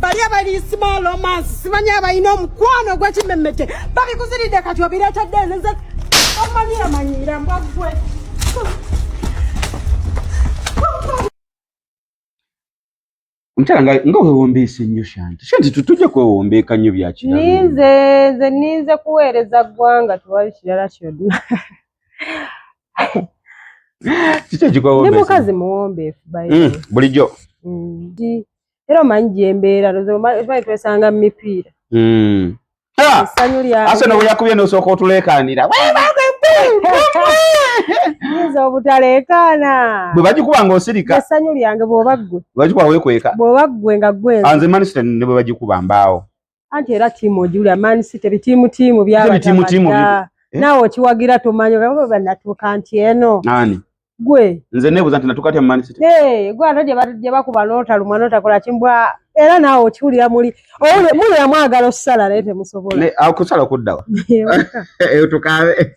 bali abali small romance simanyi abalina omukwano ogwekimemete babikuziridde kati obiretadde nze omanyiramanyira mbwagwe omukyala nga nga wewombeesa ennyo shanti shanti tutujja kwewombeeka nnyo byakira ninze nze ninze kuweereza ggwanga tewali kirala kyonna kiki ekikwewombeesa ni mukazi muwombeefu mm, bulijjo mm. era omanyi gyembeera lozimanye twesanga mu mipiira hmm. essanyu lyaasona bwe yakubye nosooka otuleekaanira yinza obutaleekaana bwe bagikuba nga osirika essanyu lyange bwoba ggwe bagikuba wekweka bwoba ggwe nga gwenze anze manisita ne bwe bagikuba mbaawo anti era tiimu ojulira man city bitiimu tiimu byabatamatira eh? naawe okiwagira tomanyi banatuuka nti eno gwe nze nebuza nti natuuka tya man city eh, gwe ate gye bakuba notalumwa notakola kimbwa era naawe okiwulira muli muli yamwagala okusala naye temusobola okusala kuddawa eyo eh, tukabe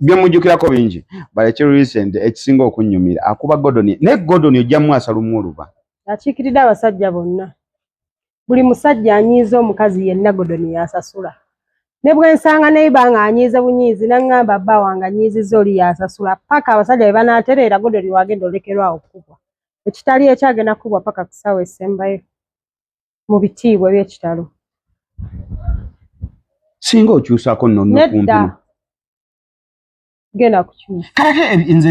byemujjukirako bingi but ekiri recent ekisinga okunnyumira akuba godoni naye godoni ojjamu asalumu oluba akiikiridde abasajja bonna buli musajja anyiiza omukazi yenna godoni yasasula ne bwensanga neiba nga anyiize bunyiizi naŋŋamba bba wange anyiizizza oli yasasula paka abasajja be banaatereera godoni wagenda olekerwawo okukubwa ekitali ekyagenda kukubwa paka ku ssaawa esembayo mu bitiibwa eby'ekitalo singa okyusako noneddagendakukyusakaleke nze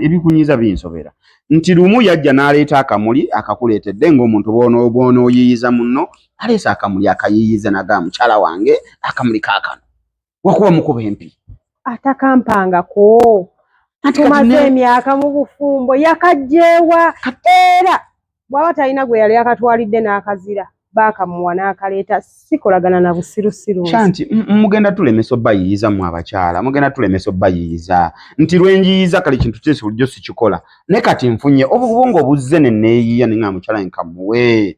ebikunyiza binsobera nti lumu yajja n'aleeta akamuli akakuleetedde ng'omuntu bwonooyiyiza munno aleese akamuli akayiyiza naga mukyala wange akamuli kakano wakuba mukuba empi atakampangako tumaze emyaka mu bufumbo yakajjeewa era bwaba talina gwe yali akatwalidde n'akazira baakamuwa n'akaleeta sikolagana na busirusiru kyanti mugenda tulemesa obayiyiza mu abakyala mugenda tulemesa obayiyiza nti lwenjiyiza kale kintu kyesi bulijjo sikikola ne kati nfunye obubongo obuzze neneeyiya ne nga mukyala nkamuwe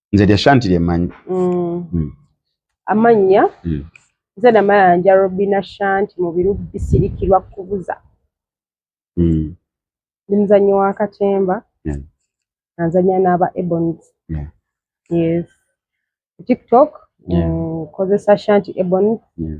nze lya shanti lye mmanyi mm. mm. amannya mm. nze namayanja robina shanti mu biru bisirikirwa kubuza mm. ndi muzannyi wa katemba yeah. nanzanya n'aba ebons yeah. yes tiktok nkozesa yeah. mm, shanti ebons yeah.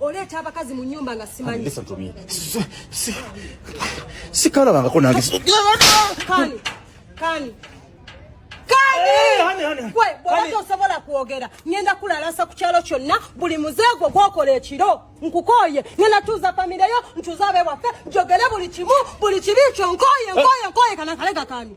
oleeta abakazi mu nyumba nga simanyi sikalabangako nange bwewaki osobola kwogera ngenda kulalasa ku kyalo kyonna buli muzeegwo gwokola ekiro nkukooye ngenda tuuza famireyo ntuuza abewaffe njogere buli kimu buli kibi kyo nkooye nkooye nkooye kanakale kakani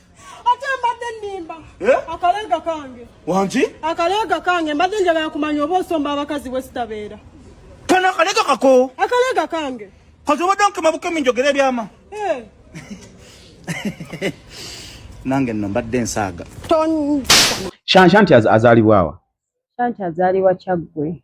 ate mbadde nnimba eh? akaleega kange wangi akaleega kange mbadde njagala kumanya oba osomba abakazi bwe sitabeera kano akaleega kako akaleega kange kati obadde nkema bukemi njogera ebyama eh. nange nno mbadde ensaaga shanshanti azaalibwawa shanti azaalibwa kyaggwe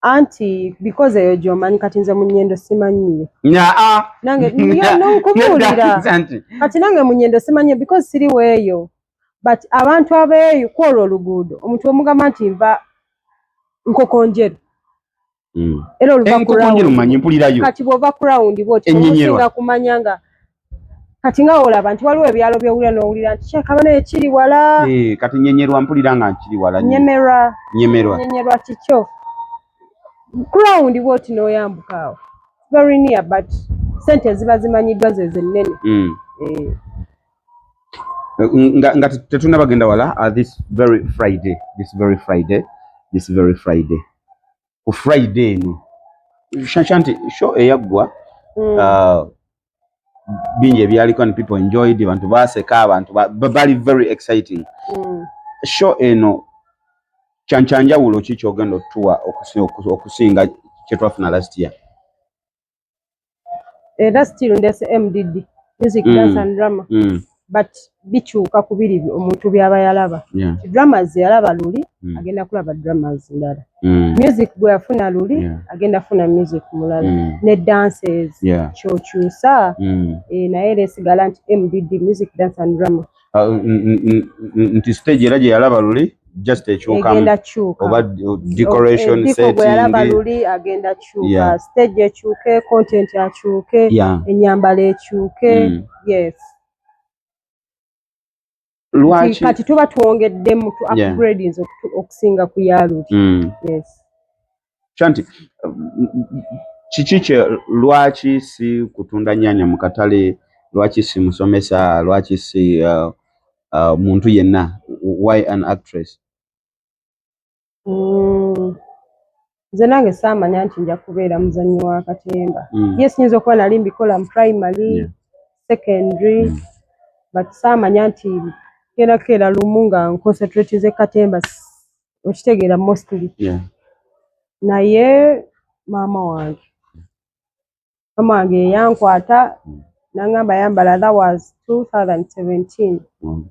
anti because eyo gyomanyi kati nze munyendo simanyiyo ah. nangenkubuulirati kati nange munyendo simanyiyo because siri weeyo but abantu abeeyo kwolwo oluguudo omuntu omugamba nti nva nkokonjeru hmm. era oluvakumanyi mpulirayo kati bwova kurawundi bwotinga kumanya nga kati nga olaba nti waliwo ebyalo byowulira nowulira nti kyekaba naye kiri wala eh, kati nyenyerwa mpulira nga nkiri wala nyemerwa nyemerwa nyenyerwa kikyo ground bwoti noyambuka awo very near but sente ziba zimanyiddwa ze zennene mm. eh. nga, nga tetuna bagenda wala uh, this very friday this very friday this very friday ku friday eno shanshanti show eyaggwa mm. uh, bingi ebyaliko and people enjoyed abantu baseka abantu bali very exciting mm. show eno kyankyanjawulo ki kyogenda otuwa okusinga kyetwafuna last year era still ndese mdd music mm. dance and drama mm. but bikyuka ku biri omuntu byaba yalaba yeah. dramas yalaba luli mm. agenda kulaba dramas ndala mm. music gwe yafuna luli yeah. agenda funa music mulala mm. ne dances yeah. kyokyusa mm. e, naye era esigala nti mdd music dance and drama ah, nti stage era gye yalaba luli just ekyukamu oba decoration eh, settingaluli agenda kyuka stage ekyuke content akyuke enyambala ekyuke mm. yes lwaki kati tuba twongeddemu tu upgradings okusinga ku yaluli mm. yes kyanti kiki kye lwaki si kutunda nyanya mu katale lwaki si musomesa lwaki si uh, uh, muntu yenna why an actress mm. nze nange saamanya nti nja kubeera muzanyi wa katemba mm. ye siyinza okuba nali mbikola mu primary yeah. secondary mm. but saamanya nti kera keera lumu nga nconcentratize katemba okitegeera mostly yeah. naye maama wange maama wange yeyankwata mm. nangamba yambala that was 2017 mm.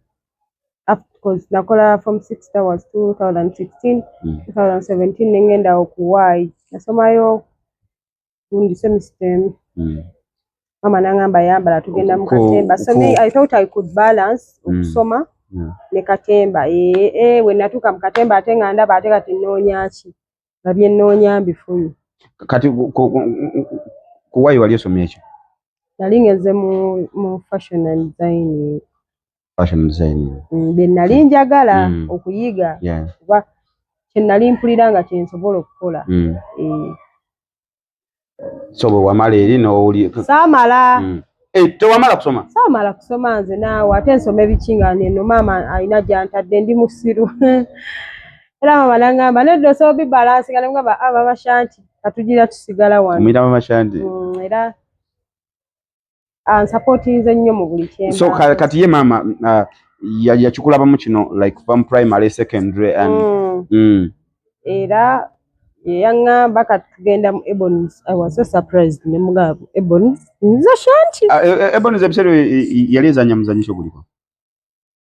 because nakola form six that was 2016 mm. 2017 nengenda okuwaayi nasomayo gundi semester emu mm. mama nangamba yambala tugenda mu katemba so me i thought i could balance mm. okusoma mm. yeah. ne katemba ee ee eh, wenatuuka mu katemba ate nga ndaba ate kati nnoonyaki nga bye nnoonya mbifunye kati kuwayi wali osomye ekyo nali ngeze mu mu fashion and design fashion design mm, bye nali njagala mm. okuyiga kuba yeah. kye nali mpulira nga kyensobola okukola mm. e. so bwe wamala eri n'owuli saamala mm. eh, tewamala kusoma saamala kusoma nze naawe ate nsoma ebikingana eno maama alina gyantadde ndi musiru era maama nangamba nedda osobola bibalansinga nemugamba ababashanti ah, katugira tusigala wano omuyita bamashanti mm, era ansapotinze nnyo mu buli kyemba so kati ye maama uh, yakikulabamu ya kino like kuva mu primary secondary and mm. Mm. era yeyaŋŋamba kati tugenda mu ebons i was so surprised ne mugabo ebons nza shanti uh, ebons ebiseera yali ezanya muzanyisa oguliko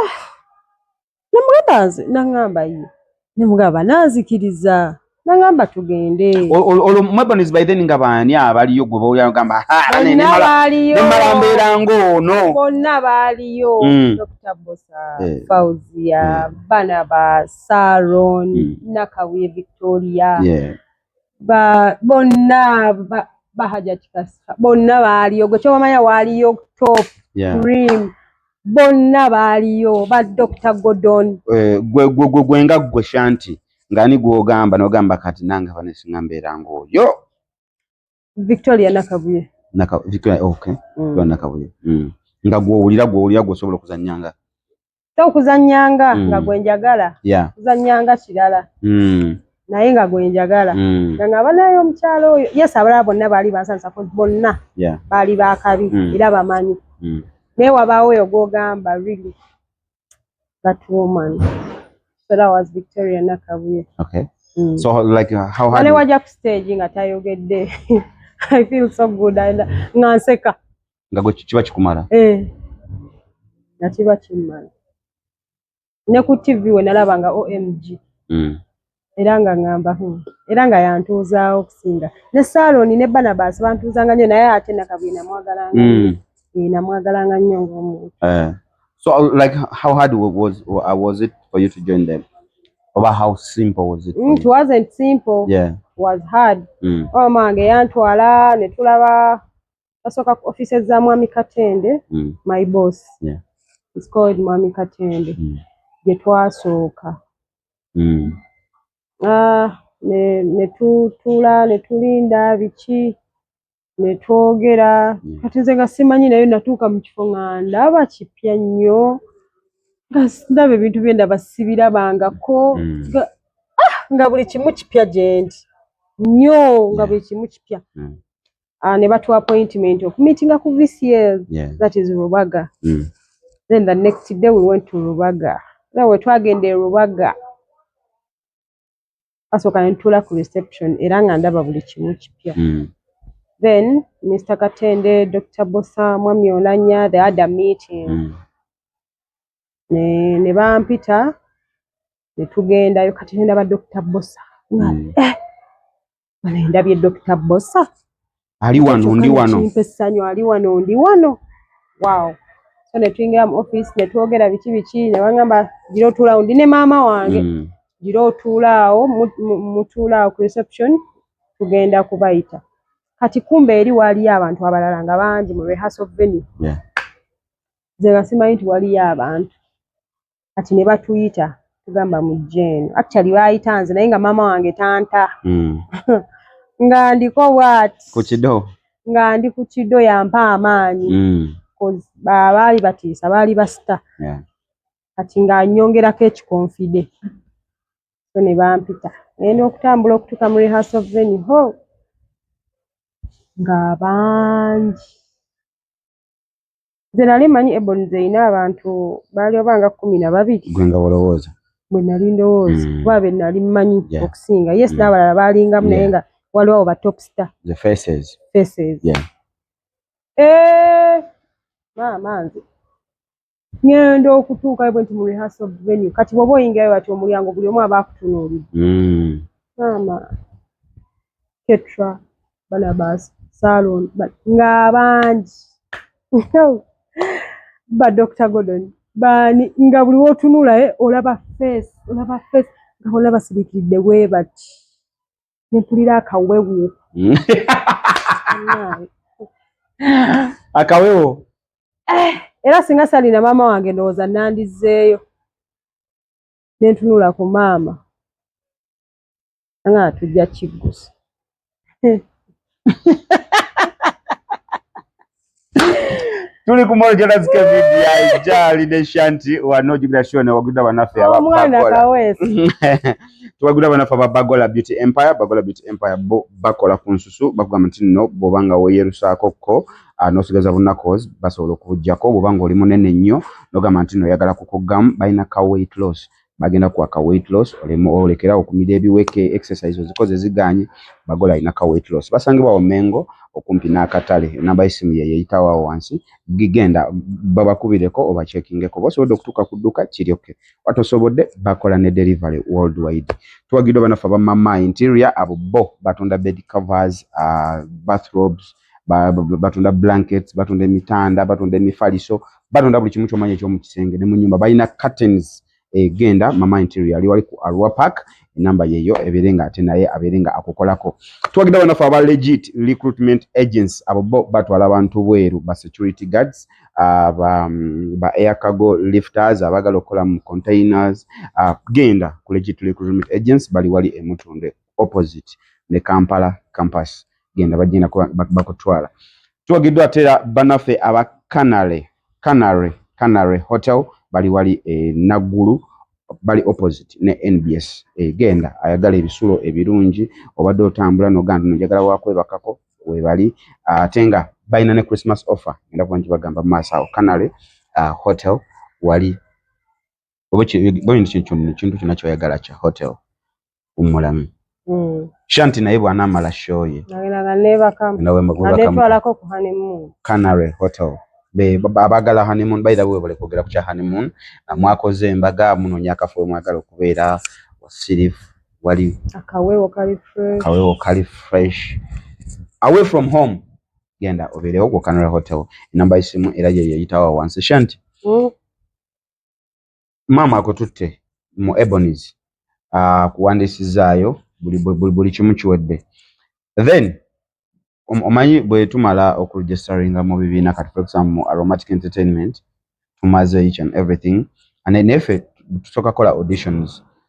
ah, namugamba nze nangamba ye nemugamba nanzikiriza nangamba tugende olwo mwebonizi by then nga baani abaliyo gwe boyagamba nemala mbeera ngaono bonna baaliyo mm. dr bosa eh. fauzia mm. bana ba saron mm. nakabuye victoria bonna bahajati kasa bonna baaliyo gwe kyowamanya waaliyo top cream bonna baaliyo ba dr godon eh, gwe nga gwe shanti ngani gwogamba nogamba kati nange abanesinga mbeera ngaoyo Victoria Nakabuye. Naka Victoria okay. Mm. Gwa Nakabuye. Mm. Nga gwo ulira gwo ulira gwo sobola kuzanyanga. To kuzanyanga mm. nga gwe njagala. Yeah. Kuzanyanga kirala. Mm. Naye nga gwe njagala. Mm. Nga ngaba nayo omukyalo oyo. Yes abala bonna bali bansansa ko bonna. Yeah. Bali bakabi mm. era bamanyi. Mm. Naye wabaawo oyo gwogamba really. that woman so that was victoria nakabuye okay mm. so like uh, how hard wajja ku stage nga tayogedde i feel so good and nga nseka nga gwe kiba kikumala eh nga kiba kimala ne ku tv we nalaba nga omg mm. era nga ngamba hmm, era nga yantuuzaawo okusinga ne saaloni ne banabaasi bantuuzanga nnyo naye ate nakabwi namwagalanga hmm. eh, namwagalanga nnyo ngaomuntu eh. so like how hard was, uh, was it for you to join them oba how simple was it mm, it wasn't simple yeah. was hard mm. omange oh, yantwala netulaba basooka ku offices za mwami katende mm. my boss yeah. is called mwami katende mm. gye twasooka mm. ah, netutuula ne netulinda biki netwogera mm. kati nze nga simanyi naye natuuka mu kifo nga ndaba kipya nnyo nga ndaba ebintu bye ndaba sibirabangako mm. ah, nga buli kimu kipya gyendi nnyo nga buli kimu kipya mm. uh, ne batuwa appointment okumitinga ku vcl yeah. that is rubaga mm. then the next day we went to rubaga era wetwagenda e rubaga asooka nentuula ku reception era nga ndaba buli kimu kipya mm. then mr katende dr bosa mwami olanya the other meeting mm. ne, ne bampita netugendayo kati nendaba dr bosa mm. eh, ndabye dokita bosa ali wano ndi wano essanyu ali wano ndi wano wow so ne tuyingira mu office ne twogera biki biki ne bangamba gira otuulaawo ndi ne maama wange mm. gira otuulaawo mutuulaawo ku reception tugenda kubayita kati kumbe eri waaliyo abantu abalala nga bangi mu rehearsal venue yeah. nze nga simanyi nti waliyo abantu kati ne batuyita tugamba mujje eno actually baayita nze naye nga maama wange tanta mm. nga ndiko wat ku kido nga ndi ku kido yampa amaanyi mm. baali batiisa baali basita yeah. kati nga nyongerako ekikonfide so ne bampita naye n'okutambula okutuuka mu rehearsal venue ho nga bangi Nze nali manyi Ebony zeyina abantu baali oba nga kumi na babiri. Gwe nga olowooza? Bwe nali ndowooza mm. kuba be nali manyi yeah. okusinga yes mm. n'abalala baalingamu naye yeah. nga waliwo abo ba top star the faces faces yeah. eh, maama nze ngenda okutuukayo bwe nti mu rehearsal venue kati bwoba oyingirayo bati omulyango buli omu aba akutunuulidde mm. maama ketra banabas salon nga bangi ba dr gordon bani nga buli wotunulaye eh, olaba face olaba face nga bona basirikiridde webati nempulira akawewo hmm. akawewo eh, era singa salina maama wange ndowooza nandizeeyo nentunula ku maama nga tujja kiggusa tuli ku mall jona zike video ya jali ne shanti wa no jibira show ne waguda banafe aba mwana kawes tuwaguda banafe aba bagola beauty empire bagola beauty empire bo bakola ku nsusu bakuga mti no bobanga wo yerusa kokko ah, no sigaza bonna cause basobola okujjako bobanga oli munene nnyo nogamba nti no yagala kukugam baina ka weight loss bagenda kwa ka weight loss olema olekera okumira ebiweke exercise ozikoze ziganye bagola ina ka weight loss basangibwa wa mengo okumpi na katale namba isimu ye yeyita wa wansi gigenda baba kubire ko oba checking ko boso odo kutuka kuduka kiri okay wato sobode bakola ne delivery worldwide tuwa gido bana faba mama interior abo bo batunda bed covers uh, bathrobes batunda blankets batunda emitanda batunda emifaliso batunda buli kimu kyomanyi ekyomukisenge ne munyumba balina curtains egenda eh, mama interior ali wali ku arua park enamba yeyo ebeere nga ate naye abeere nga akukolako twagenda banafe aba legit recruitment agents abo bo batwala abantu bweru ba security guards uh, ba, mm, ba air cargo lifters abagala okukola mu containers uh, genda ku legit recruitment agents bali wali emutunde opposite ne Kampala campus genda bagenda bakutwala tuwagiddwa ate era banaffe aba canary canary canary hotel bali wali e naggulu bali opposite ne nbs egenda ayagala ebisulo ebirungi obadde otambula nogamba no njagala wakwebakako webali ate nga balina ne christmas offer genda kuba nti bagamba maaso awo canary uh, hotel wali oba kintu kyona kyoyagala kya hotel umulamu mm. shanti naye bwanamala shoye canary hotel abagala honeymoon by the way bale kwogera ku kya honeymoon mwakoze embaga munonya akafo mwagala okubeera wasirifu wali akawewo kali fresh akawewo kali fresh away from home genda obeerewo ku canary hotel enamba isimu era yeyeyitawa wansi shanti mm. maama akututte mu ebonies akuwandiisizaayo buli kimu kiwedde then omanyi bwe tumala okuregistaringa mu bibiina kati for example mu aromatic entertainment tumaze each and everything and then efe tusooka kola auditions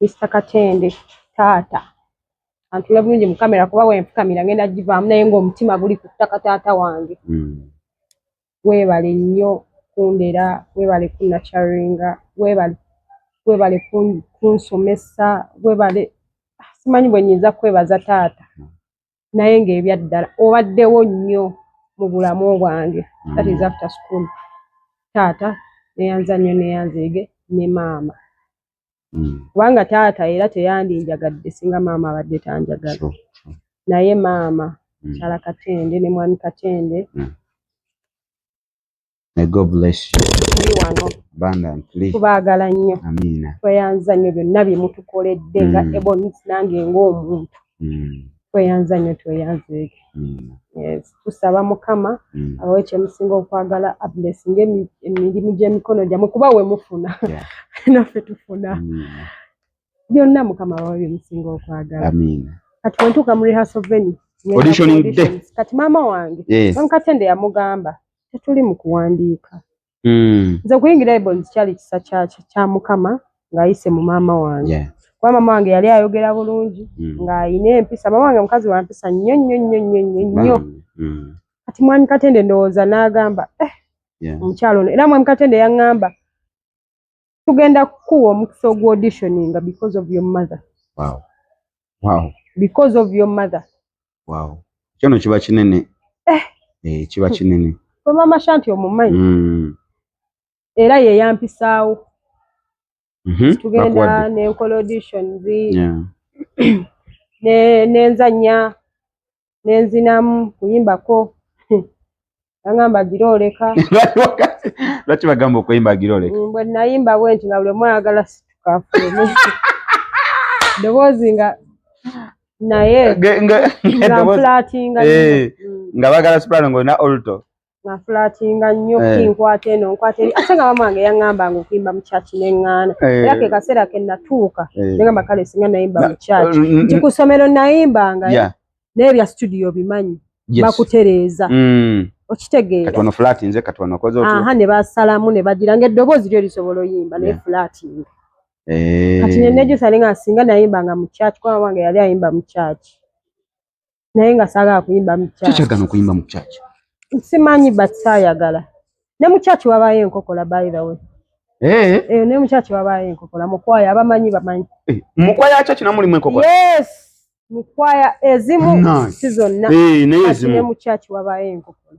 Mister Katende taata antule bulungi mu kamera kuba wenfukamira ngenda givaamu naye ng'omutima guli ku ttaka taata wange mm. weebale nnyo kundera weebale kunakyaringa weebale weebale kunsomesa weebale ah, simanyi bwe nyinza kwebaza taata mm. naye ng'ebyaddala obaddewo nnyo mu bulamu bwange mm. that is after school taata neyanza nnyo neyanzeege ne maama mm. kubanga taata era teyandinjagadde singa maama abadde tanjagala sure, sure. naye maama mm. kyala katende ne mwami katende mm. tubaagala nnyo tweyanza nnyo byonna byemutukoledde nga mm. ebonange ngaomuntu mm. tweyanza nnyo tweyanzeeke mm. yes. tusaba mukama mm. abawe kyemusinga okwagala ablesinga emirimu gy'emikono gyamwe kuba we mufuna yeah. naffe tufuna mm. byonna mukama abawe byemusinga okwagala kati wentuuka mu rehaso veni kati maama wange yes. nkatende yamugamba tetuli mu kuwandiika mm. nze okuyingira ebonzi kyali kisa kya mukama ng'ayise mu maama wange yeah. kuba maama wange yali ayogera bulungi mm. ng'alina empisa maama wange mukazi wa mpisa nnyo nnyo nnyo nnyo nnyo nnyo mm. kati mwami katende ndowooza n'agamba eh, yeah. omukyalo ono era mwami katende yaŋŋamba tugenda kukuwa omukisa ogwa auditioninga because of your mother wow. Wow. because of your mother wow. kyono kiba kinene eh. Eh, kiba kinene omama shanti omumanyi mm. era yeyampisaawo mm -hmm. tugenda nenkola auditions yeah. nenzanya ne nenzinamu kuyimbako agamba gira oleka lwaki bagamba okuyimba gira oleka mm, bwe nayimba bwe nti nga buli mwayagala situkafumu ddoboozi nga naye nga flatinga eh, mm. nga bagala soprano nga olina olto nafulatinga nnyo eh. kinkwata eno nkwata eri ate nga mamange yaŋŋamba nga okuyimba mu kyaki neŋŋaana eh. era ke kaseera ke natuuka eh. neŋamba kale singa nayimba mu kyaki mm, mm, nti ku ssomero nayimbanga naye bya situdiyo bimanyi bakutereeza mm. okitegeeraha ne basalamu ne bagira nga eddoboozi lyo lisobola oyimba naye fulatinga kati nenejusa nenga singa nayimbanga mu kyaki kuba mamange yali ayimba mu kyaki naye nga saagala kuyimba mu church. Kiki kyagana okuyimba mu church? Simanyi but saayagala. Ne mu church wabaayo enkokola by the way. Eh. Eh, ne mu church wabaayo enkokola mu kwaya abamanyi bamanyi. Eh, mu kwaya church na mulimu enkokola. Yes. Mu kwaya ezimu si zonna. Eh, naye ezimu. Ne mu church wabaayo enkokola.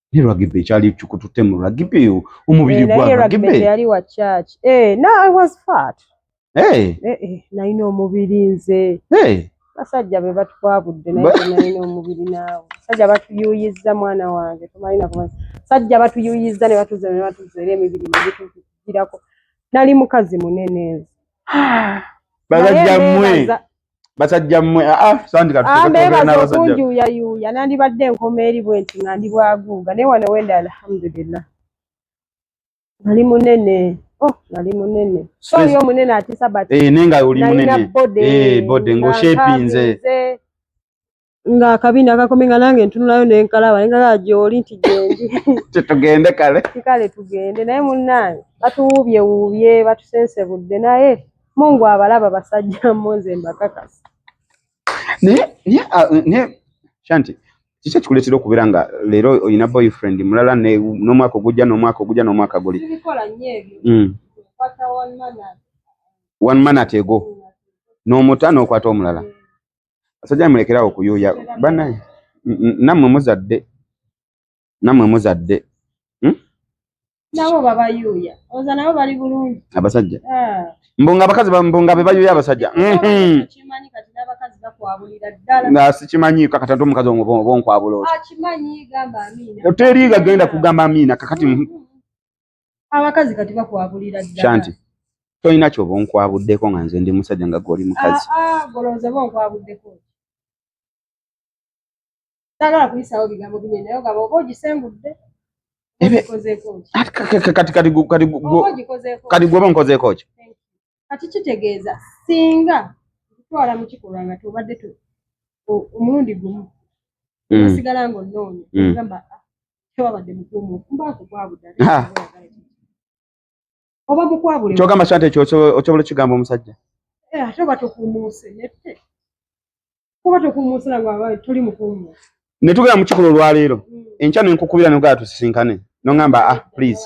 ne rugby ekyali kikutute mu rugby yo omubiri gwa rugby yali wa church eh no i was fat eh eh, eh naina omubiri nze eh basajja be batwabudde naye naina omubiri naawe basajja batuyuyizza mwana wange tumalina kuba basajja batuyuyizza ne batuze ne batuze era emibiri negitugirako nali mukazi munene nze basajja mwe basajja mmwe aa ah, ah, sandika tutegeeza okunjuuya yuuya nandibadde enkoma eri bwe nti nga ndi bwaguuga naye wano wenda alhamdulillah nali munene oh nali munene sori omunene atisa but eh nenga oli munene eh bode ngo shapinze nga akabina kakome nga nange ntunulayo nenkalaba nengaa gyoli nti gyendi titugende kale kikale tugende naye munnange batuwuubye wuubye batusensebudde naye mungu abalaba basajja mmo nze mbakakasa naye naye ah, naye shanti kiki ekikuleetera okubeera nga leero olina boyfriend mulala n'omwaka ogujja n'omwaka ogujja n'omwaka guli hmm. one man atego n'omuta n'okwata omulala Asajja mulekerawo kuyuya bana namwe muzadde namwe muzadde hmm? nabo babayuya oza nabo bali bulungi abasajja ah. mbunga abakazi mbunga bebayuya abasajja hmm. sikimanyi kakati nti omukazi omubonkwabula oteriga genda kugamba amiina kakati hmm. abakazi kati bakwabulira ddala shanti tolina kyoba onkwabuddeko nga nze ndi musajja nga gwoli mukazi ah, ah, golowooza oba onkwabuddeko sagala kuyisaawo bigambo bine naye ogamba oba ogisengudde kati gwoba onkozeeko ki kati kitegeeza singa okutwala mu kikolwa nga tobadde omulundi gumu mm. osigala ngaonoonya mm. ogamba kyogamba sante ekyo okyobola okigamba omusajja eh, ate oba tokuumuuse nette kuba tokuumuusira nga tuli mukuumuusa ne tugenda mu kikolo olwaleero mm. enkya ne nkukubira nogaa tusisinkane nongamba ah please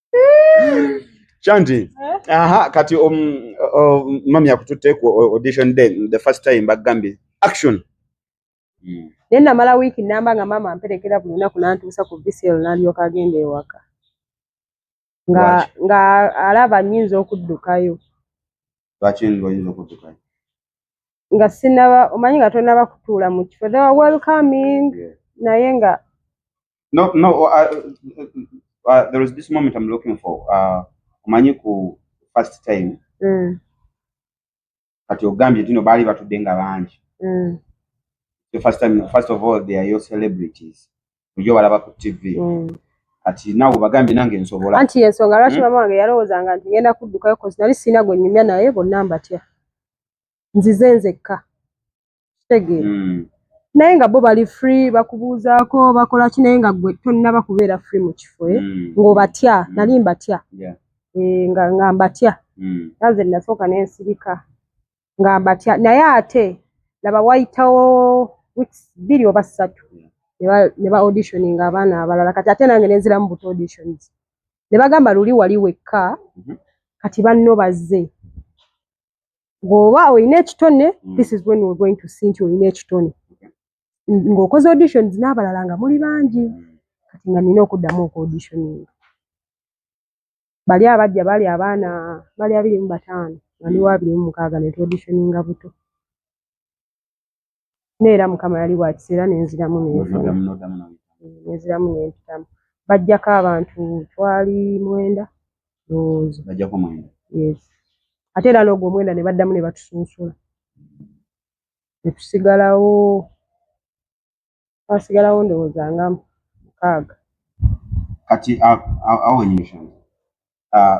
Chanti. Eh? Aha, kati um, um, mami yakututte ku audition day the first time bagambye action. Mm. Naye namala wiiki namba nga maama amperekera buli lunaku nantuusa ku VCL nalyoka agenda ewaka nga nga alaba nyinza okuddukayo. Lwaki oyinza okuddukayo? Nga sinaba omanyi nga tonaba kutuula mu kifo. They were welcoming yeah. naye nga no no uh, uh, uh, there is this moment i'm looking for uh, omanyi ku first time mm. kati ogambye tino baali batudde nga bangi mm. the first time first of all they are your celebrities ojo balaba ku tv mm. kati nawe bagambye nange nsobola anti yensonga lwaki hmm? mama wange yalowoozanga nti ngenda kuddukayo kozi nali sirina gwe nyumya naye bonna mbatya nzize nzekka kitegeera hmm. naye nga bo bali free bakubuuzaako bakola ki naye nga gwe tonnaba kubeera free mu kifo eh? hmm. ng'obatya hmm. nali mbatya eh, nga nga mbatya naze nasooka nensirika nga mbatya naye ate laba wayitawo weeks bbiri oba ssatu ne ba auditioning abaana abalala kati ate nange nenziramu but auditions ne bagamba luli wali wekka mhm. kati banno bazze bw'oba olina ekitone mm. this is when we're going to see nti olina ekitone ng'okoze auditions n'abalala nga muli bangi mm. kati nga nina okuddamu oku auditioning bali abajja bali abaana bali abiri mu bataano bali mm. abiri mu mukaaga ne tu auditioninga buto naye era mukama yali wakisa era nenziramu nenziramu nempitamu bajjako abantu twali mwenda lowooza yes ate era noogwo omwenda ne baddamu ne batusunsula ne tusigalawo twasigalawo ndowooza nga mukaaga kati awenyesha ah,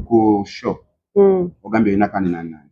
ku show hmm. ogambye olina kandi nanani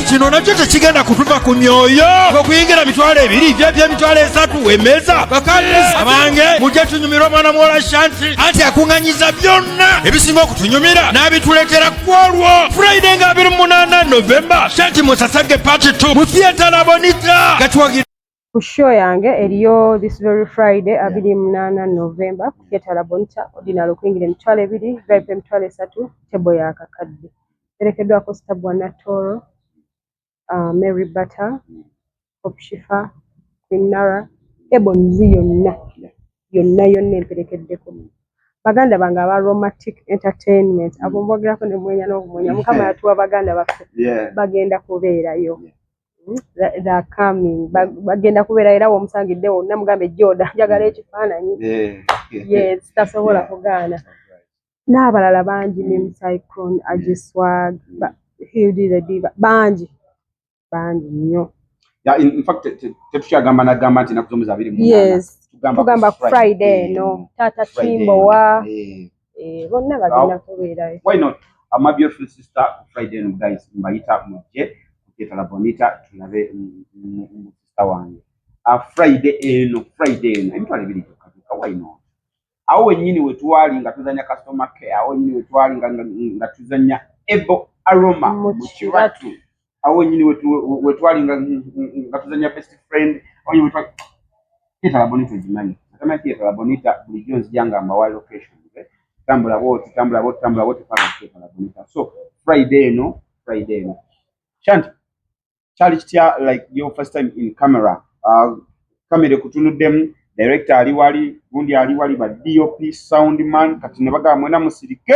kino nakyo tekigenda kutuva ku myoyo okuyingira mitwalo ebiri byebyemitwalo esatu emeza bakadde abange mujja tunyumira omwana muwola shanti anti akuŋanyiza byonna ebisinga okutunyumira n'abituleetera ku olwo friday nga 28 novemba shanti musasage pati 2 mu theatre labonita gatuwagira ku show yange eriyo this very friday abiri munaana november ku theatre labonita ordinary okuyingira emitwalo ebiri vip emitwalo esatu tebo ya kakadde erekeddwako stabwa natoro uh, mary butter opshifa quinara ebonzi yonna yonna yonna emperekeddeko baganda bange aba romantic entertainment abo mbogerako ne mwenya n'okumwenya mukama yatuwa baganda baffe bagenda kubeerayo Hmm? bagenda kubeera era womusangidde wonna mugambe joda njagala hmm. ekifaananyi yes tasobola kugaana n'abalala bangi ne mucyclone agiswag hildilediva bangi bangi nnyo tetukyagamba nagamba nti nakuzomuza abiri tugamba friday eno taata kimbowa eh bonna bagenda kubeera why not ama beautiful sister ku friday and guys mbayita mujje kuketala bonita tulabe mu sister wange a ah, friday eno friday eno emitwalo ebiri gyokka gyokka why not awo wenyini wetwali nga tuzanya customer care awo wenyini wetwali nga tuzanya ebo aroma mu kiratu awo wenyini wetwali nga tuzanya best friend kitalabonita ogimanyi atama kitalabonita bulijjo nzija nga mbawa location tambula bwoti tambula bwoti tambula bwoti paka kitalabonita so friday eno friday eno shanti kyali kitya like your first time in camera uh, kamera ekutunuddemu director ali wali gundi ali wali ba dop sound man kati ne bagamba mwena musirike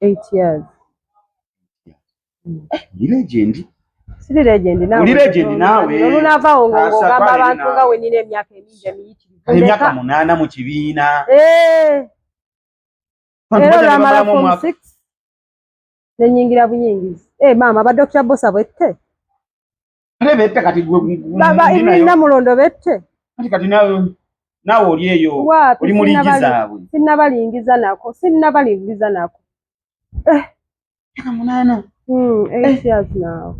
8 years ndi legend siri legend nawe ndi legend nawe nolu nava ongo ngamba abantu nga we nine emyaka emingi emiyiti emyaka munana mu kibiina eh era la mala form 6 nenyingira buyingizi eh mama ba doctor bosa bwette Kale bette kati gwe baba ibiri na mulondo bette. Kati kati nawe nawe oli eyo oli mulingiza abwe. Sinna balingiza nako, sinna balingiza nako. Eh. Kaka munana. Mm, eh, eight eh. years now.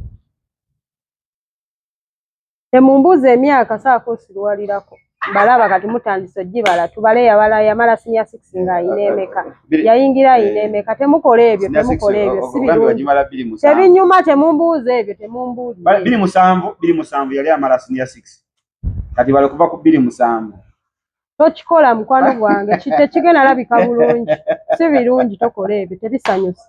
Emumbuze emyaka saako sirwalirako. balaba kati mutandise ojibala tubale yabala yamala sinya 6 nga ayina emeka yayingira ayina eh. emeka temukola ebyo temukola ebyo oh, oh, sibirungi tebinyuma temumbuuza ebyo temumbuuza biri musanvu biri musanvu yali amala sinya 6 kati bale kuva ku biri musanvu tokikola mukwano gwange tekigenda labika bulungi si birungi tokola ebyo tebisanyusa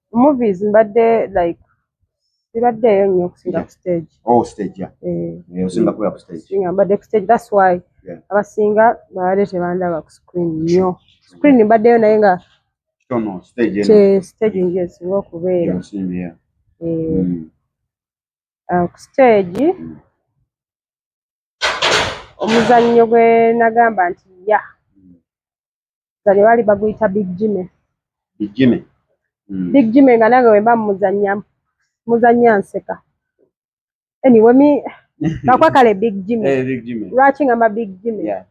movies mbadde like sibaddeeyo nnyo okusinga ku stage oh stage ya eh. eh, osinga kubeera ku stage singa mbadde ku stage that's why abasinga babadde tebandaba ku screen nnyo screen mbaddeyo naye nga stage nje esinga okubeera eh. mm. ah, ku stage mm. omuzannyo gwe nagamba nti ya zanye bali baguyita big jime big jime mm. big jime nga nange wemba muzanya muzanya nseka anyway mi kakwa kale big jime hey, eh, big jime lwaki ngamba big jime yeah.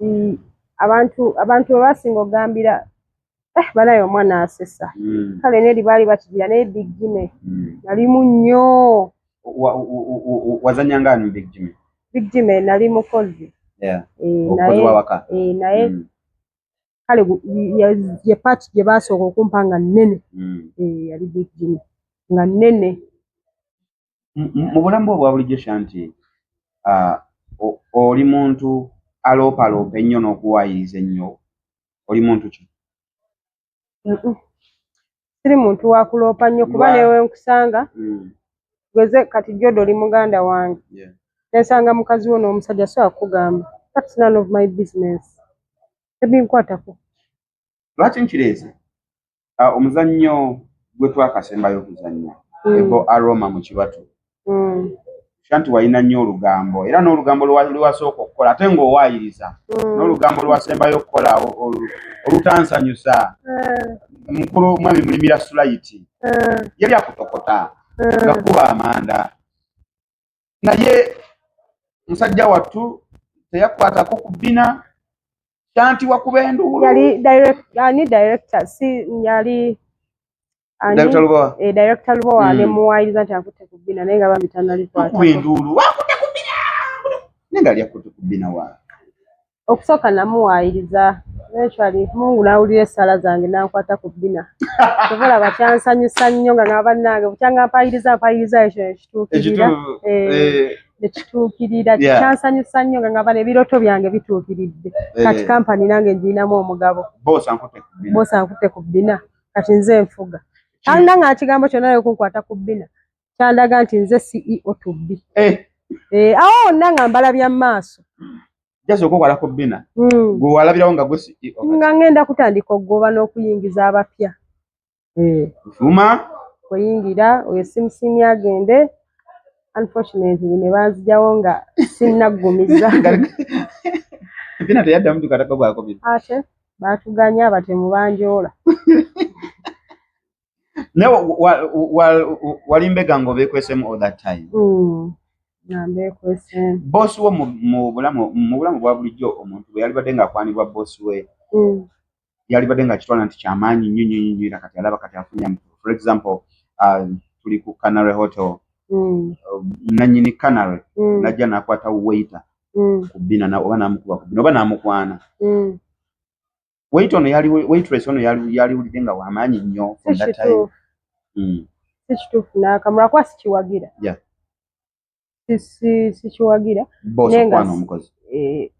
mm, abantu abantu bebasinga ogambira eh, banaye omwana asesa mm. kale neri baali bakigira naye big jime mm. nalimu nnyo wazanyanga ani big jime big jime nali mukozi yeah. e, naye, e, naye mm. kale ye paati gye baasooka okumpa nga nnene mm. e, yali big jime nga nnene mu bulamu bwe obwa bulijjo shanti uh, oli muntu aloopaloopa ennyo n'okuwaayiriza ennyo oli muntu ki siri muntu wakuloopa nnyo kuba newe nkusanga mm. gweze kati jodo oli muganda wange nensanga mukazi wo n'omusajja so akugamba that's none of my business tebinkwatako lwaki nkireese ah, omuzannyo gwe twakasembayo okuzannya mm. ebo aroma mu kibatu mm. shanti walina nnyo olugambo era n'olugambo lwewasooka okukola ate ng'owaayiriza mm. n'olugambo lwasembayo okukola olutansanyusa mukulu mwami mulimira sulayiti yali akutokota nga kuba amanda naye musajja wattu teyakwatako ku bbina kyanti wakuba enduulu yali ani director si yali director lubowa eh director lubowa hmm. nemuwayiriza nti akutte ku bbina naye nga bambi tanalikwatakuba enduulu wakutte ku bbina naye nga ali akutte ku bbina wa okusooka namuwaayiriza eventually mungu n'awulira essaala zange n'ankwata ku bbina kyova olaba kyansanyusa nnyo nga nga bannange bukyanga mpayiriza mpayiriza ekyo nekituukirira eh, eh. nekituukirira kyansanyusa nnyo nga ngaba nebiroto byange bituukiridde eh. kati kampani nange ngirinamu omugabo boosa nkutte ku bbina kati nze nfuga alina nga ekigambo kyonna yokunkwata ku bbina kyandaga nti nze ceo to be eh. Eh, awo wonna nga mbala bya maaso hmm. e nga ngenda kutandika okugoba n'okuyingiza abapya eh. oyingira oyo simusiimi agende unfortunately ne banzijawo nga sinnaggumiza ate batuganya batemu banjoola naye walimbega nga obekwesemu all that time mm. bosi wo mu bulamu bwa bulijjo omuntu bwe yalibadde ngaakwanibwa bosi we mm. yalibadde nga kitwala nti kyamaanyi nnyo nnyo nnyo era kati alaba kati afunya for example uh, tuli ku canary hotel mm. uh, nanyini canary najja nakwata waiter ku bina oba namukuba ku bina oba namukwana wait ono yali waitress ono yali yali ulide nga wamanyi nnyo from that time mm si kitufu na kamura kwa si kiwagira yeah si si si kiwagira boss kwa no mkozi eh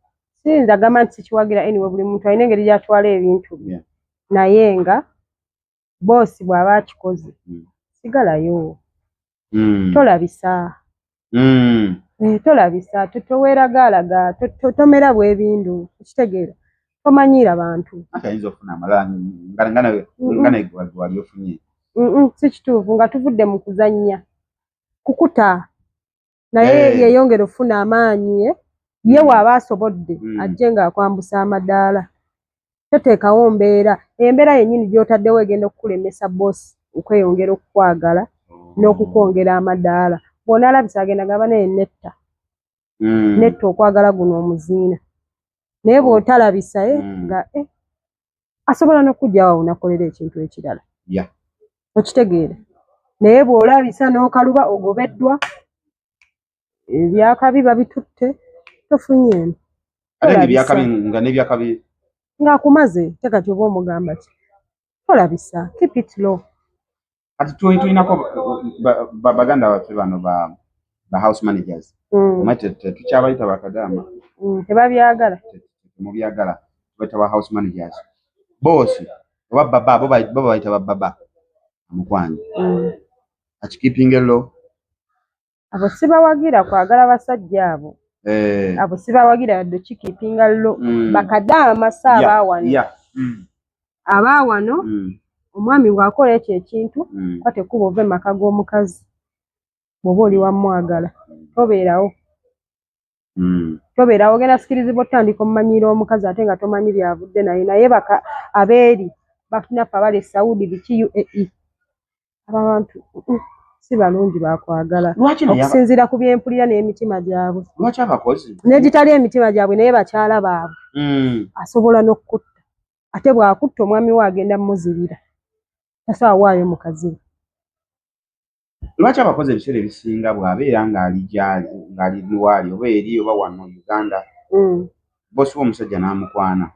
si nda gama si kiwagira anyway buli mtu aine ngeri ya twale ebintu yeah naye nga boosi bw'aba akikoze hmm. sigalayo hmm. tolabisa hmm. eh, tolabisa toweragaalaga tomera bwebindu okitegeera tomanyiira bantu si kituufu nga tuvudde mu kuzannya kukuta naye hey. Eh. yeyongera okufuna amaanyi ye ye mm. waaba asobodde mm. ajje ng'akwambusa amadaala toteekawo mbeera embeera yennyini gy'otaddewo egenda okukulemesa boosi okweyongera okukwagala oh. n'okukwongera amadaala bwona alabisa agenda gaba naye netta mm. netta okwagala guno omuziina naye oh. bw'otalabisa ye eh, mm. nga eh, asobola nokujjawo awo nakolera ekintu ekirala okitegeera naye bwolabisa nokaluba ogobeddwa ebyakabi babitutte tofunyeemu ngaakumaze tekati oba omugamba ki tolabisa keep it low kati tulinako baganda baffe bano ba ba house managers mm. omwe tetukyabayita bakadaama mm, tebabyagala temubyagala tubayita ba house managers boosi oba baba bo babayita bababa amukwanya mm. akikipinga ello abo sibawagira kwagala basajja abo eh. abo sibawagira yadde kikipinga lo mm. bakadaama si abaawano yeah. yeah. mm. abaawano mm. omwami bwakola ekyo ekintu mm. ka tekuba ova emaka g'omukazi bwoba oli wamwagala tobeerawo Mm. tobeerawo ogenda sikirizibwa otutandika omumanyiira omukazi ate nga tomanyi byavudde naye naye baka abeeri batunaffe abali e saudi biki uae ababantu si balungi bakwagala okusinziira ku byempulira n'emitima gyabwe negitali emitima gyabwe naye bakyala baabwe mm. asobola n'okukutta ate bwakutta omwami we agenda muzibira tasobola waayo mukazi we lwaki abakozi ebiseera ebisinga bw'abeera ng'ali gyali ng'ali waali oba eri oba wano uganda mm. boosi w'omusajja n'amukwana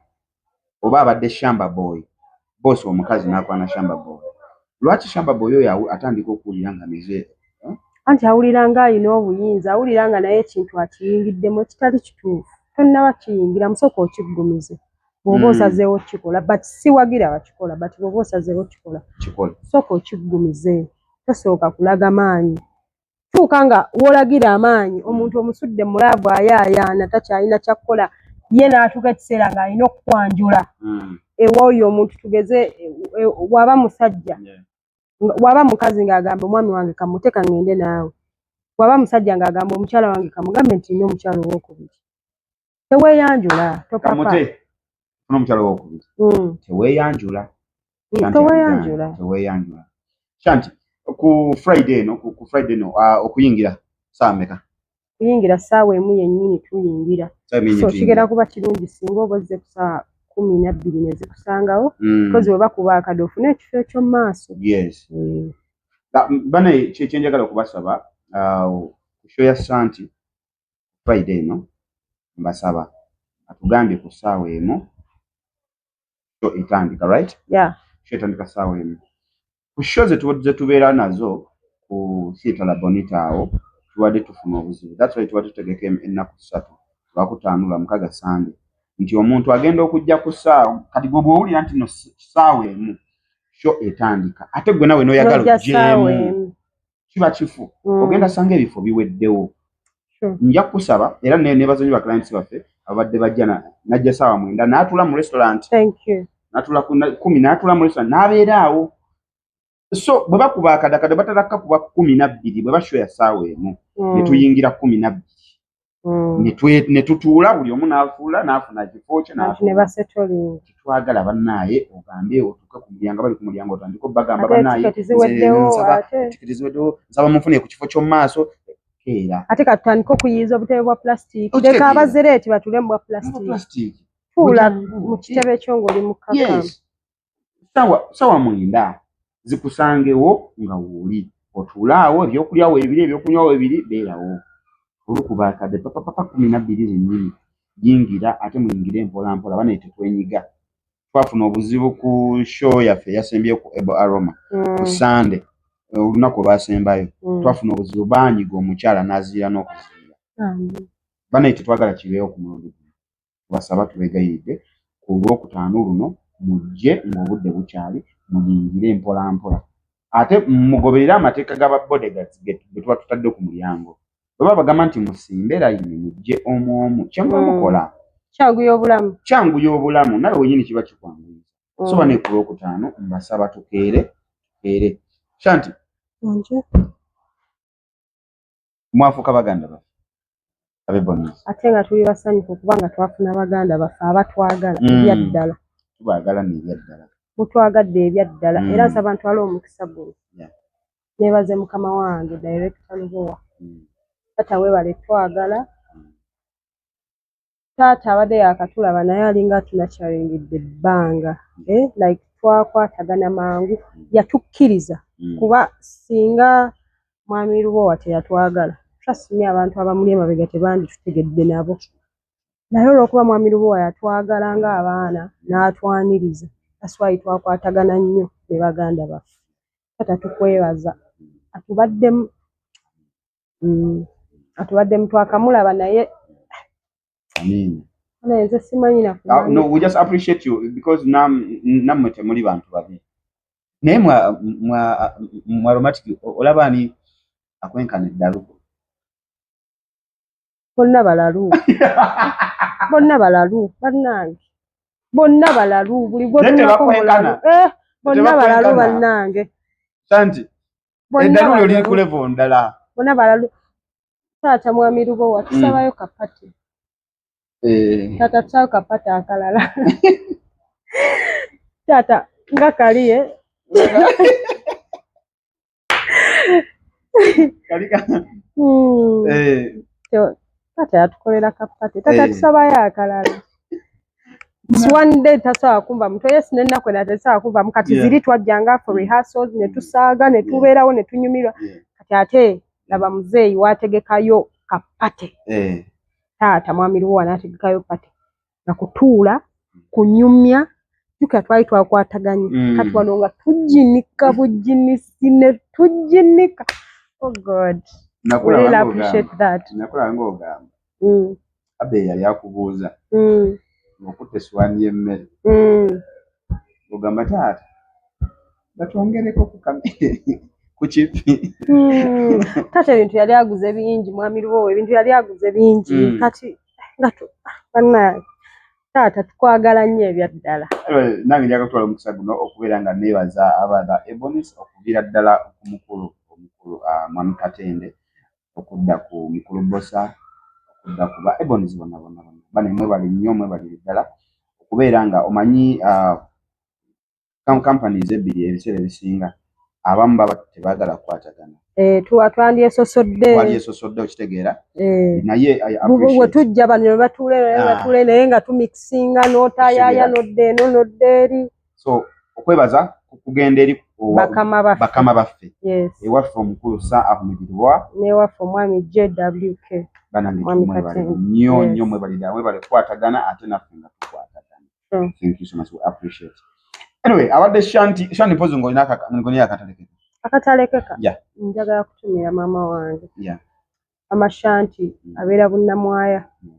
oba abadde shamba boy boosi omukazi n'akwana shamba boy lwaki shamba boy oyo atandika okuwulira nga mize eh? anti awulira ng'alina obuyinza awulira nga naye ekintu akiyingiddemu ekitali kituufu tonnaba kiyingira musooka okiggumize bwoba hmm. osazeewo okukikola but siwagira bakikola but bwoba osazeewo okukikola sooka okiggumize tosooka kulaga maanyi tuuka nga wolagira amaanyi omuntu omusudde mulaavu ayaayaana takyalina kyakukola ye n'atuuka ekiseera ng'alina okukwanjula hmm. ewooyo omuntu tugeze e, e, waba musajja waba mukazi ng'agamba omwami wange kamuteeka ng'ende naawe waba musajja ng'agamba omukyala wange kamugambe nti nina omukyala owokubiri teweyanjula topapa omukyalo wokubiri mm. teweyanjula mm, teweyanjula teweyanjula shanti ku friday eno ku friday eno ah, okuyingira saa meka kuyingira saawa emu yennyini tuyingira so kigera kuba kirungi singa oba ozze kusaawa kumi nabbiri nezikusangawo mm. kozi weba kuba akade ofune ekifo ekyo mumaaso eh. bana kyenjagala okubasaba ah, kushoya santi ku Friday eno mbasaba atugambye ku ssaawa emu sho etandika right yeah. sho etandika ssaawa emu ku sho zetubeera nazo ku siita la bonita awo tubadde tufuna obuzibu that's why tubadde tutegeka ennaku ssatu lwakutaano lwamukaga sande nti omuntu agenda okujja ku ssaawa kati gwe bwowulira nti no ssaawa emu sho etandika ate gwe nawe noyagala ojjeemu kiba kifu mm. ogenda sanga ebifo biweddewo nja kukusaba era nebazonyi ba clients baffe ababadde bajja najja saawa mwenda natula mu restaurant natula kumi natula mu restaurant nabeera awo so bwe bakuba akadakada batalakka kuba kumi nabbiri bwe bashoya saawa emu mm. netuyingira kumi nabbiri mm. ne tutuula buli omu n'afuula n'afuna ekifo kye netwagala bannaaye ogambe otuuke ku mulyango bali ku mulyango otandika obagamba bannaayeziweddewo nsaba munfune ku kifo ky'omu maaso keera ate katutandika okuyiiza obutebe bwa pulasitiiki leka abazereeti batuule mu bwa pulasitiiki tuula mu kitebe kyo ng'oli mukkakkamu sawa sawa mwenda zikusangewo nga wooli otuulaawo ebyokulya webiri ebyokunywa webiri beerawo olukuba akadde papapapa kumi nabbiri zennyini yingira ate muyingire mpola mpola banaye tetwenyiga twafuna obuzibu ku show yaffe yasembye ku ebo aroma ku mm. sande olunaku olwasembayo mm. twafuna obuzibu banyiga omukyala naziira n'okuziira banaye tetwagala kibeewo ku mulundi tubasaba tubegayiridde ku lwokutaano luno mujje ng'obudde bukyali muyingire mpolampola ate mugoberere amateeka ga babodegazi betuba tutadde ku mulyango baba bagamba nti musimbe layini mujje omwomu kyemuba mm. mukola kyanguya obulamu kyanguya obulamu nawe wenyini kiba kikwanguya mm. soba ne ku lwokutaano mbasaba tukeere tukeere shanti mwafuuka baganda baffe abebonezi ate nga tuli basanyufu kubanga twafuna baganda baffe abatwagala mm. ebyaddala tubagala nebyaddala mutwagadde ebyaddala mm. era nsaba ntwala omukisa guno nebaze mukama wange directa lubowa mm. tata webale twagala taata abadde yakatulaba naye alinga atunakyaringidde ebbanga eh, like twakwatagana mangu yatukkiriza mm. kuba singa mwami lubowa teyatwagala trustme abantu abamuli emabega tebanditutegedde nabo naye olwokuba mwami lubowa yatwagala nga abaana n'atwaniriza aswayi twakwatagana nnyo ne baganda baffe kata tukwebaza atubaddemu mm. atubaddemu twakamulaba naye nze simanyi nakunammwe ah, temuli bantu babi naye mwaromatiki olaba ani akwenkana eddalu bonna balalu bonna balalu bannange bonna balalu buli gwotunako mulalu eh, bonna balalu bannange santi eddalu lyo liri ku levo ndala bona balalu taata mwami lubo watusabayo mm. kapati eh. taata tusabayo kapati akalala taata nga kaliye kalika hmm. eh. taata yatukolera kapati taata eh. tusabayo akalala one day tasobola kumva muto yesu nennaku ena tesobola kuvamu kati ziri twajjanga for rehearsals ne tusaaga ne tubeerawo ne tunyumirwa kati ate laba muzeeyi waategekayo kapate eh. taata mwami luwo wanaategekayo pate nga kutuula kunyumya jukira twali twakwataganye mm. kati wano nga tujinika bujinisi ne tujinika oh god nakulanga ogamba mm. abe yali akubuuza mm. okutta eswani y'emmere mm. ogamba taata batwongereko ku kipi mm. taata ebintu yali aguze bingi mwami lubowa ebintu yali aguze bingi mm. kati nga banange taata tukwagala nnyo ebyaddala eh, nange njaga kutwala omukisa guno okubeera nga neebaza abatha ebonis okuviira ddala ku mukulu omukulu ah, mwami katende okudda ku mukulu Bbosa okudda ku ba Ebonies bonna bonna bonna bane mwebale nnyo mwebalire ddala okubeera nga omanyi companies ebbiri ebiseera ebisinga abamu baba tebaagala kukwatagana Eh, tuwa twandyesosodde twandyesosodde okitegeera eh, naye bwe tujja bano ne batuula ah. batuula naye nga tumikisinga n'otayaya nodde eno nodde eri so okwebaza kugenda eri bakama baffe ewaffe omukulu sa ahumidirwa newaffe omwami jwk banange mwebale nyo nyo mwebalida mwebale kukwatagana ate naffe nga tukwatagana thank you so much we appreciate anyway abadde shanti shanti mpozi ngolina ngolina akatalekeka akatalekeka yeah njagala kutumira mama wange yeah amashanti mm. abeera bunnamwaya mm.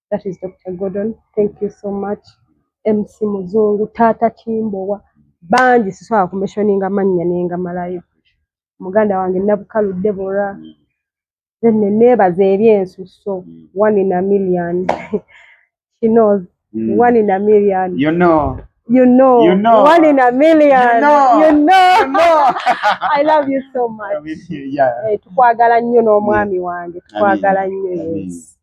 that is Dr. Gordon thank you so much MC Muzungu Tata Kimbowa bangi sisobola kumeshoninga mannya nengamalayo muganda wange Nabukalu Deborah then neneebaza ebyensusso mm. one in a million she knows mm. one in a million you know you know, you know, one in a million. You know, you know. You know. I love you so much. I mean, yeah. Hey, eh, tukwagala nnyo n'omwami wange tukwagala nnyo yes.